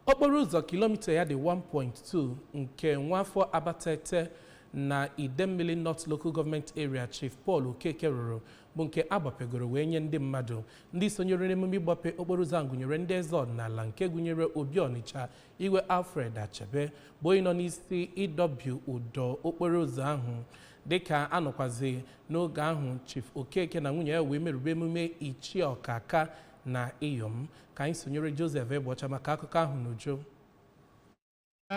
okporo ụzọ kilomita ya dị 1.2 nke nwafọ abatete na idemmili north local government area chief paul okeke rụrụ bụ nke agbapegoro wee nye ndị mmadụ ndị sonyere n'emume ịgbape okporo ụzọ ahụ gụnyere ndị eze ọdịnala nke gụnyere obi ọnịcha igwe alfred achebe bụ onye nọ n'isi ịdọbi ụdọ okporo ụzọ ahụ dịka anọkwazi n'oge ahụ chief okeke na nwunye ya wee merube emume ichi ọkaka na iyom ka anyị sonyere Joseph Egbeọcha maka akụkọ ahụ n'uju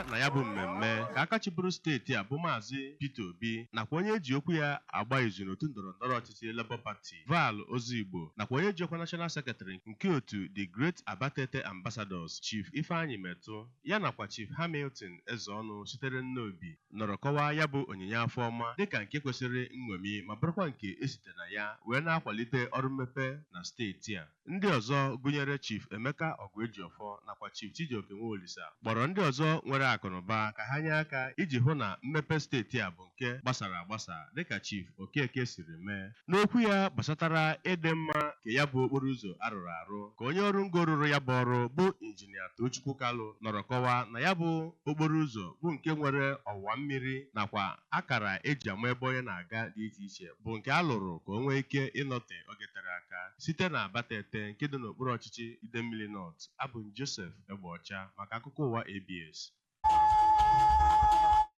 na ya bụ mmemme ka aka chịburu steeti a bụ maazị Peter Obi nakwa onye eji okwu ya agba izu n'otu ndọrọ ndọrọ ọchịchị Labour Party Val Ozigbo nakwa onye ji ọkwa National Secretary nke otu The Great Abatete Ambassadors Chief Ifeanyi Metụ ya nakwa Chief Hamilton Ezeọnụ sitere Nnobi nọrọ kọwaa ya bụ onyinye afọ ọma dịka nke kwesịrị nñomi ma bụrụkwa nke e site na ya wee na-akwalite ọrụ mmepe na steeti a. Ndị ọzọ gụnyere Chief Emeka Ọgụejiọfọ nakwa Chief Chijioke Nwaolisa kpọrọ ndị ọzọ nwere akụnụba ka ha nye aka iji hụ na mmepe steeti a bụ nke gbasara agbasa dịka Chief Okeke siri mee. N'okwu ya gbasatara ịdị mma nke ya bụ okporoụzọ a rụrụ arụ ka onye ọrụ ngo rụrụ ya bụ ọrụ bụ Injinia Toochukwu Kalu nọrọ kọwaa na ya bụ okporoụzọ bụ nke nwere ọwa mmiri nakwa akara e ji ama ebe onye na-aga dị iche iche bụ nke a lụrụ ka o nwee ike ịnọte oge tere aka site na Abatete nke dị n'okpuru ọchịchị Idemmili North. Abụ m Joseph Egbeọcha maka akụkọ ụwa ABS.